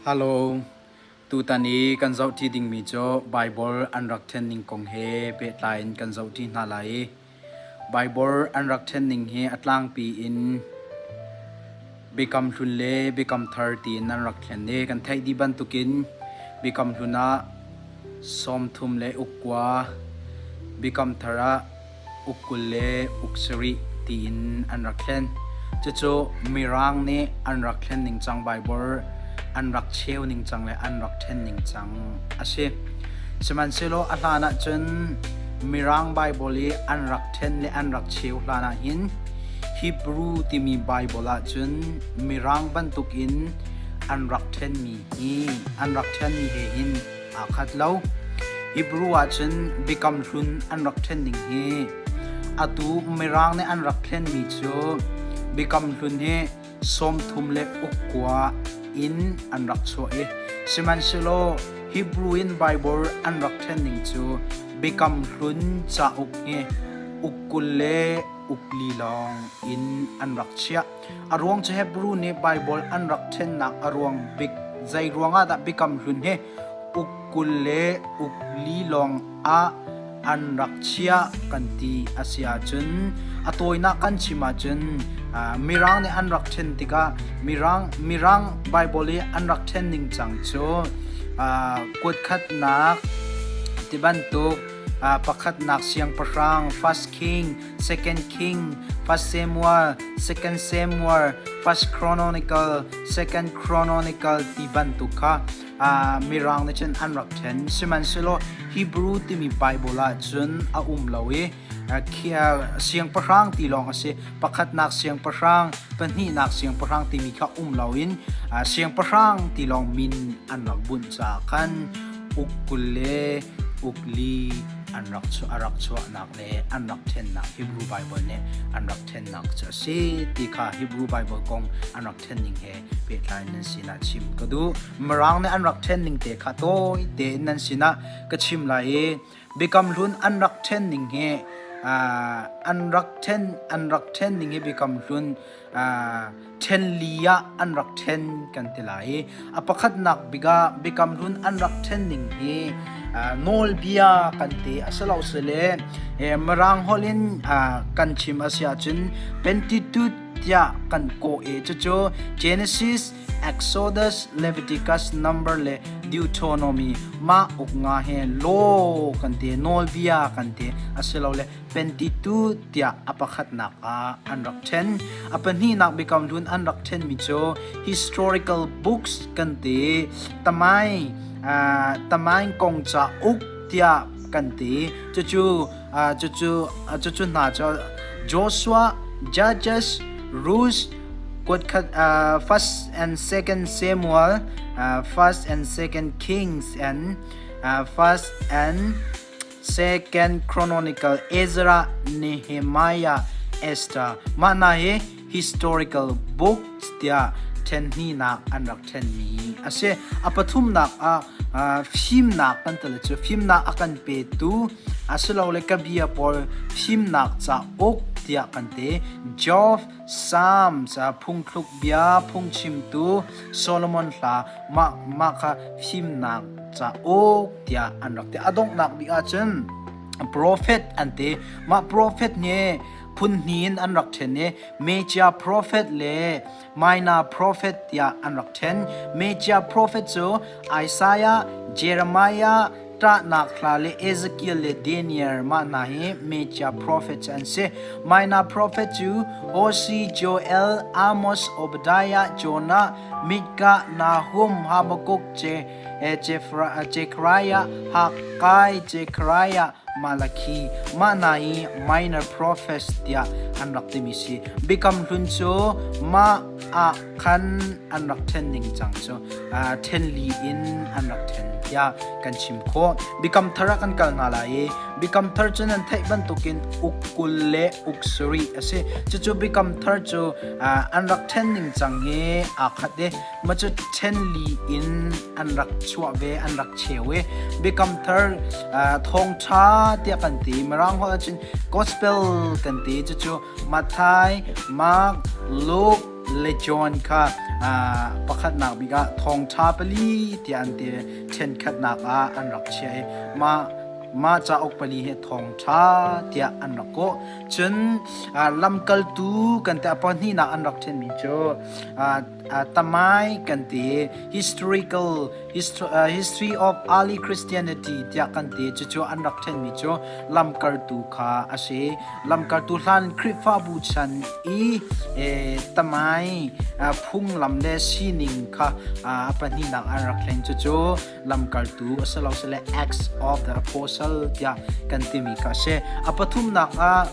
Halo, tutan i kan zohṭi dingmi cu Baibal an rak ṭhenning kong he pehtlai in kan zohṭi hna lai i Baibal an rak ṭhenning hi a tlangpi in Biakam Hlun le Biakam Thar tiin an rak ṭhen i kan theih dih bantukin Biakam Hlun ah Sawm thum le uk kua, Biakam Thar ah uk kul le uk sarih tiin an rak thlen. Cucu Mirang nih an rak thlen ningcang Baibal an rak cheu ningcang le an rak ṭhen ningcang a si. Sihmanhsehlaw a hlan ah cun Mirang Baibal i an rak ṭhen le an rak cheu hlan ah hin Hebrew timi Baibal ah cun Mirang bantuk in an rak ṭhenmi hi an rak ṭhenmi he hin aa khat lo. Hebrew ahcun Biakam Hlun an rak ṭhen ning hi atu Mirang nih an rak thlenmi cu Biakam Hlun hi sawmthum le ukkua in an rak chuah i sihmanhsehlaw Hebrew in Baibal an rak ṭhen ning cu Biakam Hlun cauk hi uk kul le uk li lawng in an rak chiah. A ruang cu Hebru nih Baibal an rak ṭhennak a ruang bik zei ruangah dah Biakam Hlun hi uk kul le uk li lawng ah an rak chiah kan ti a si ahcun a tawinak kan chim ahcun mirang nih an rak ṭhen tikah mirang mirang Baibal i an rak ṭhen ning cang cu kuatkhatnak ti bantuk pakhatnak siangpahrang first king 2 King 1 Samuel 2 Samuel 1 Chronicle 2 Chronicle ti bantuk kha uh, mirang ne chen an rak then sihmanhselaw Hebrew timi Bible ah cun a um lo i siangpahrang ti lawng a si pakhatnak siangpahrang pahnihnak siangpahrang timi kha um lo in siangpahrang ti lawng min an rak bunh ca khan uk kul le uk li an rak chu a rak chuahnak an rak ṭhennak Hebrew Bible nih an rak ṭhennak cu a si ti kha Hebrew Bible kong an rak ṭhen ning he pehtlai nan sinah chim ka duh Mirang nih an rak ṭhen ning te kha tawi tein nan sinah ka chim lai i Biakam hlun an rak ṭhen ning he an rak ṭhen an rak ṭhen ning hi Biakam hlun ṭhenli ah an rak ṭhen kan ti lai i a pakhatnak bik ah Biakam Hlun an rak ṭhen ning hi nawlbia kan ti a si lo si le Mirang holh in kan chim a si ahcun Pentateuch tiah kan kawh e cucu Genesis Exodus Leviticus number le Deuteronomy mah uk nga he lo kan ti nawlbia kan ti a si lo le Pentateuch tiah a pakhatnak ah an rak ṭhen. A pahnihnak Biakam Hlun an rak ṭhenmi cu Historical Books kan ti. Tamai, uh, Tamain Kongca Uk tiah kan ti. Cucu, uh, cucu, uh, cucu hna cu Joshua, Judges, Ruth, kuatkhat, uh, First and Second Samuel, uh, First and Second Kings and uh, First and Second Chronicle Ezra, Nehemiah, Esther mah hna hi historical books tiah ṭhenhnihnak an rak ṭhenmi a si. A pathumnak ah uh, fimnak kan tale cu fimnak a kan petu asilole ka bia pawl fimnak cauk tiah kan te Geoff Salm ca phungthluk bia phungchimtu Solomon hla mah kha fimnak cauk tiah an rak ti. A donghnak bik ahcun profet an ti. Mah profet hi phun hnih in an rak ṭhen i Mejia profet le Minor profet tiah an rak ṭhen. Mejia profet cu Isaiah, Jeremiah, ṭahnak hla le Ezekiel le Daniel mah hna hi Mejia profet cu an si. Minor profet cu Hoshi, Joel, Amos, Obadiah, Jonah, Micah, Nahum, Habakkuk, Jekariah, Hakkai, Jekariah, Malakhi mah hna hi minor prophets tiah an rak timi si. Biakam hlun cu mah ah khan an rak ṭhen ningcang cu ṭhen li in an rak ṭhen tiah kan chim khawh. Biakam thar ah kan kal nga lai i Biakam thar cu nan theih bantukin uk kul le uk sarih a si. Cucu Biakam thar cu an rak ṭhen ningcang hi aa khat i mah cu ṭhen li in an rak chuah ve, an rak cheu i Biakam thar thawngṭha tiah kan ti. Mirang holh ahcun gospel kan ti. Cucu Matthai, Mark, Luke, le John kha pakhatnak bik ah thawngṭha pali tiah an ti ṭhenkhatnak ah an rak chiah i mah mah cauk pali hi thawngṭha tiah an rak kawh cun lamkaltu kan ti a pahnihnak an rak ṭhenmi cu tamai kan ti historical History of Early Christianity tiah kan ti. Cucu an rak ṭhenmi cu lamkartu kha a si. Lamkartu hlan Khrihfabu chan i tamai phunglam le sining kha a pahnihnak an rak thleng. Cucu lamkartu a si lo sile Acts of the Apostle tiah kan timi kha a si. A pathumnak ah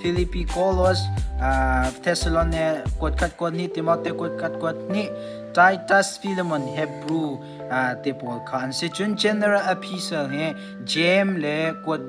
Philippi Kolos Thessalon kuatkhat kuat ni Timote kuatkhat kuat ni Titus Philemon Hebrew te pawl kha an si cun general epistle hi James le kuat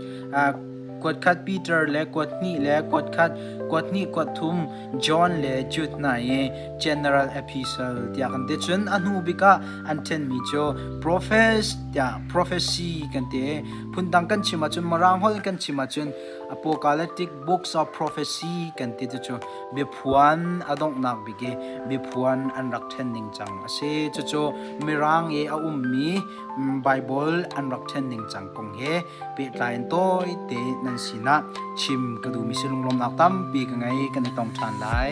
kuat khat Peter le kuat hnih le kuat khat kuat hnih kuat thum John le Jude hna i general epistle tiah kan ti cun a hnu bik ah an ṭhenmi cu profes tiah prophecy kan ti phundang kan chim ahcun mirang holh in kan chim ahcun Apocalyptic Books of Prophecy kan ti cucu biaphuan a donghnak bik i biaphuan an rak ṭhen ning cang a si. Cucu Mirang i a ummi Baibal an rak ṭhen ning cang kong he pehtlai in tawite nan sinah chim ka duhmi sinlung lawmnak tampi ka ngei kan i tong ṭhan lai.